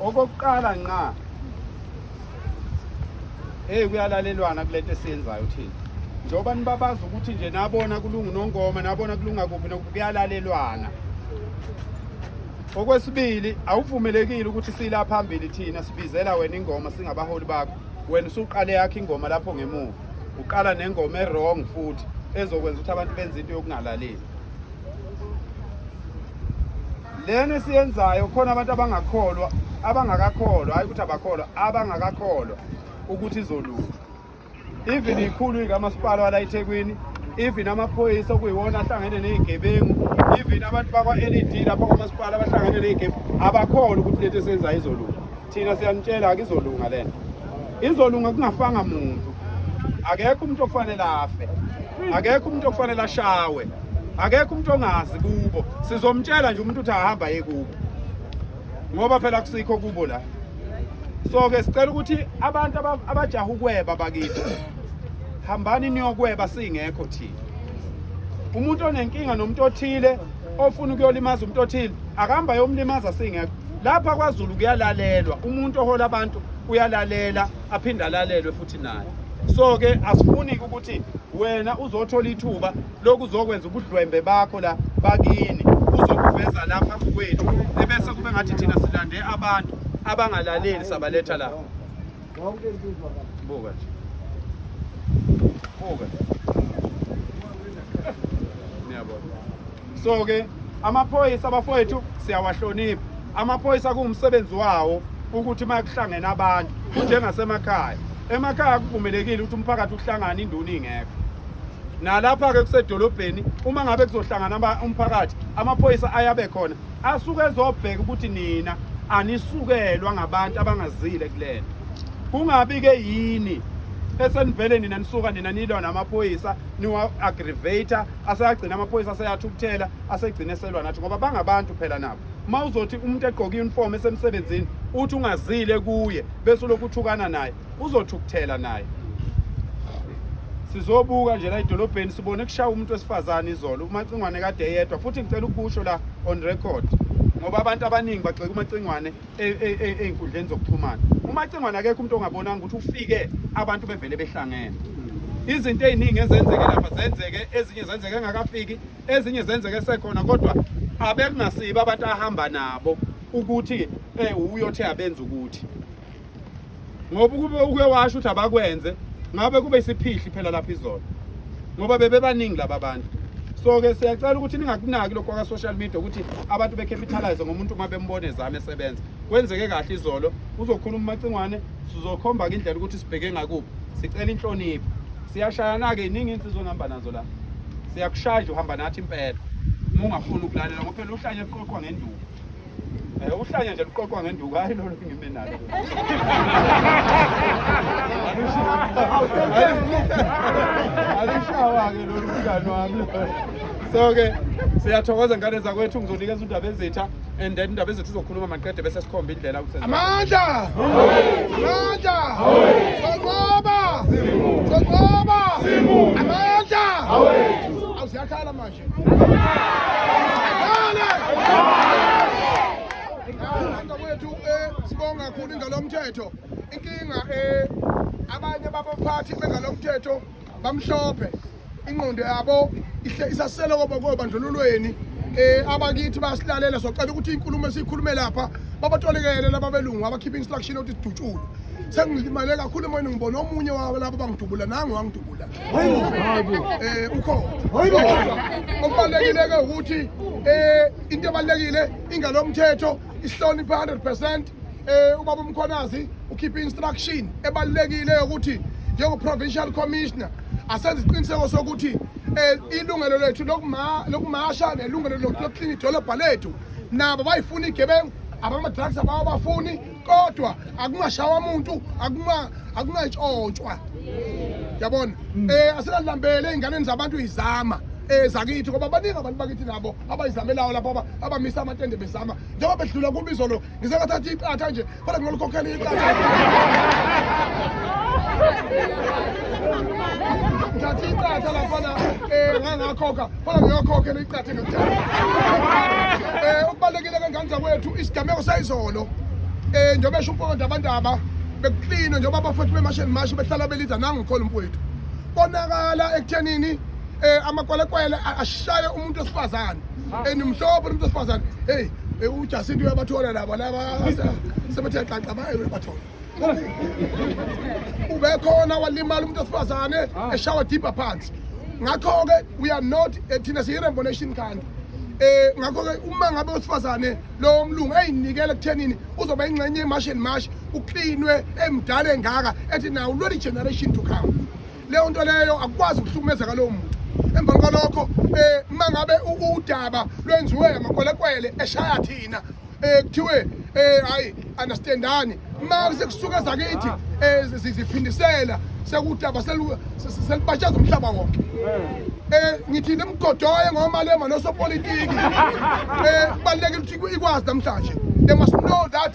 Okokuqala nqa hey kuyalalelwana kulento esiyenzayo thina njengoba nibabaza ukuthi nje nabona kulungu nongoma nabona kulunga kuphi nokuyalalelwana okwesibili awuvumelekile ukuthi sila phambili thina sibizela wena ingoma singabaholi bakho wena usuqale yakhe ingoma lapho ngemuva uqala nengoma erong futhi ezokwenza ukuthi abantu benze into yokungalaleli lena esiyenzayo khona abantu abangakholwa abangakakholwa hayi ukuthi abakholwa abangakakholwa ukuthi izolunga even ikhulu ikamasipala wala eThekwini even amaphoyisa okuyiwona ahlangene nezigebengu even abantu bakwa-led lapho kwamasipala abahlangene nezigebengu abakholwa ukuthi lento esiyenzayo izolunga Thina siyanitshela akizolunga lento. Izolunga kungafanga muntu. Akekho umuntu okufanele afe. Akekho umuntu okufanele ashawe. Akekho umuntu ongazi kubo. Sizomtshela nje umuntu ukuthi ahamba yekubo. Ngoba phela kusikho kubo la. So ke sicela ukuthi abantu abajaha ukweba bakithi. Hambani niyokweba singekho thina. Umuntu onenkinga nomuntu othile ofuna ukuyolimaza umuntu othile akahamba yomlimaza singekho. lapha kwaZulu kuyalalelwa umuntu ohola abantu uyalalela aphinde alalelwe futhi naye so ke asifuni ukuthi wena uzothola ithuba lokuzokwenza ubudlwembe bakho la bakini uzokuveza lapha kwethu ebese kube ngathi thina silande abantu abangalaleli sabaletha la Wonke insizwa ka. Buka nje. Buka. Niyabona. So ke amaphoyisa abafowethu siyawahlonipha. Amaphoyisa kuwumsebenzi wawo ukuthi uma kuhlangene abantu kunjengasemakhaya. Emakhaya kuvumelekile ukuthi umphakathi uhlangane induna ingekho. Nalapha ke kusedolobheni uma ngabe kuzohlangana umphakathi amaphoyisa ayabe khona asuke ezobheka ukuthi nina anisukelwa ngabantu abangazile kulento kungabi ke yini esenivele nina nisuka nina nilwa namaphoyisa niwa-aggravator aseyagcina amaphoyisa aseyathukuthela asegcine selwa nathi ngoba bangabantu phela nabo uma uzothi umuntu egqoke i-uniform esemsebenzini uthi ungazile kuye bese ulokhu uthukana naye uzothukuthela naye sizobuka nje la idolobheni sibone kushaya umuntu wesifazane izolo umacingwane kade eyedwa futhi ngicela ukusho la on record ngoba abantu abaningi bagxeka umacingwane e, e, e, ey'nkundleni zokuxhumana umacingwane akekho umuntu ongabonanga ukuthi ufike abantu bevele behlangene izinto ey'ningi ezenzeke lapha zenzeke ezinye zenzeke engakafiki ezinye zenzeke sekhona kodwa abekungasibo abantu ahamba nabo ukuthi um uyothi abenza ukuthi ngoba ukube uke washo ukuthi abakwenze ngabe kube isiphihli phela lapha izolo ngoba bebebaningi laba bantu so-ke siyacela ukuthi ningakunaki lokhu kwaka-social media ukuthi abantu becapitalize ngomuntu uma bembona ezame esebenza kwenzeke kahle izolo uzokhuluma umacingwane sizokhomba-ke indlela ukuthi sibheke ngakuphi sicela inhlonipho siyashayana-ke yiningi insizwa ngihamba nazo la siyakushaya nje uhamba nathi impela uma ungafuni ukulalela ngoba phela uhlanye eqoqwa ngenduku Eh uhlanya nje luqoqwa ngenduku hayi lolo ngime nalo. Alishawa ke lolu mngani wami. So ke siyathokoza ngane zakwethu ngizonikeza undaba ezitha and then indaba ezethu izokhuluma maqede bese sikhomba indlela ukuthi amandla amandla soqoba soqoba amandla awusiyakhala manje wethu eh, sibonga kakhulu ingalomthetho inkinga eh, abanye babaphathi bengalomthetho bamhlophe ingqondo yabo isasele kobandlululweni eh abakithi basilalela socela ukuthi inkulumo esikhulume lapha babatolekele laba belungu abakhipha instruction othi sidutshulwe sengilimale kakhulu emoyeni ngibona omunye wabo labo bangidubula nangu wangidubula eh ukhona okubalekileke ukuthi eh into ebalekile ingalo mthetho isihloniphe 100% eh ubaba umkhonazi ukhipha instruction ebalekile ukuthi njengo provincial commissioner asenze isiqiniseko sokuthi eh ilungelo lethu lokuma lokumasha nelungelo lokuklinika idolobha lethu nabo bayifuna igebengu abama drugs abawabafuni kodwa akungashawa muntu akungatshotshwa yabona um asingalambele ey'nganeni zabantu izama um zakithi ngoba baningi abantu bakithi nabo abayizamelayo lapho abamisa amatende bezama njengoba bedlula kubizo lo ngisengathathi iqatha nje kodwa ngingalikhokhela iqatha thatha iqatha laphana um ngangakhokha Fana ngiyokhokhe neqathe nokuthatha. Eh ukubalekile kangani zakwethu isigameko sayizolo. Eh njengoba esho umfowethu abantaba bekuklino njengoba abafowethu bemasheni mashi behlala belida nangu khona umfowethu. Konakala ekuthenini eh amakwelekwele ashaye umuntu osifazane enimhlobo umuntu osifazane hey eh, ujasinto uyabathola laba laba sebethe xaxa baye bathola ubekhona walimala umuntu wesifazane ah. eshawa deeper phansi ngakho-ke we are not eh, thina siyi-rainbow nation kanti eh ngakho-ke uma ngabe wesifazane lowo mlungu eyinikele ekuthenini uzoba ingxenye yemashi and mashi uklinwe emdala engaka ethi nawo lweli generation to come leyo nto leyo akukwazi ukuhlukumezeka lowo muntu emva kwalokho um eh, uma ngabe udaba lwenziwe amakwelekwele eshaya thina um kuthiwe um hhayi understandani uma sekusuke zakithi um ziphindisela sekudaba selibatshaza umhlaba wonke um ngithi nimgodoye ngomalema nosopolitiki um kubalulekile ukuthi ikwazi namhlanje they must know that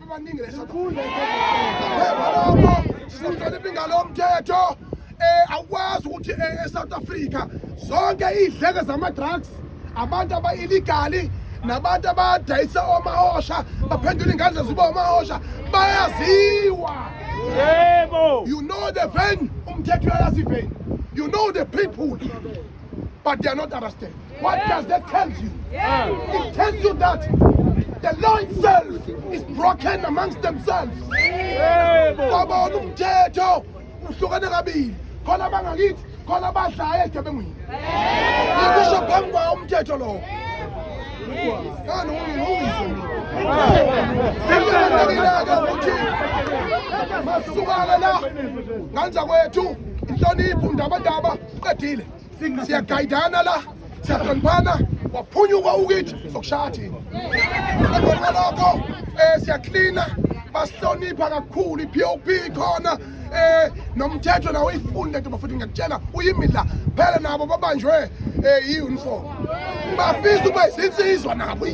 abaningi lesifunda sizohlonipha ingalo yomthetho eh awukwazi ukuthi eh, eSouth Africa zonke idleke zama drugs abantu aba illegal nabantu abadayisa omahosha baphendula ingandla ziba omahosha bayaziwa yebo you know the venue umthetho uyayazi venue you know the people but they are not arrested. What does that tell you? It tells you that the law itself is broken amongst themselves. Babona umthetho uhlukene kabili. Khona bangakithi, khona badlaye egebengwini. Ngikusho phambi kwawo umthetho lowo. Ngani ungizwe mina. Sengibalekile-ke ukuthi masukane la nganza kwethu inhlonipho ndabandaba Uqedile. Siyagayidana la. Siyahloniphana. Waphunyuka ukithi sokushaya thina. Emva kwalokho eh siyaklina basihlonipha kakhulu i-POP khona eh nomthetho nawo uyifunde ntoba futhi ngiyakutshela uyimidla phela nabo babanjwe eh i-uniform bafisa ukuba izinsizwa nabo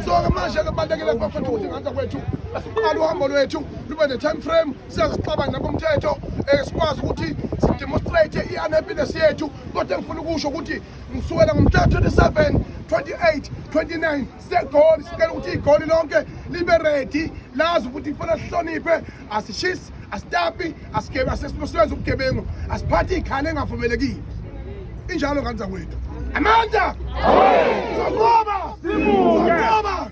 so ke manje ke balekele kubafethu ukuthi ngaka kwethu asiqala uhambo lwethu lube ne-time frame siyazixabana nakumthetho um eh, sikwazi ukuthi sidemonstrate i-unhappiness yethu kodwa engifuna ukusho ukuthi ngisukela ngomhla 27 28 29 segoli sicela ukuthi igoli lonke libe redi lazi ukuthi kufanele sihloniphe asishisi asitapi asisebenzi ubugebengu asiphathi iy'khala engavumelekile injalo ngane zakwethu amandla sokoba sokoba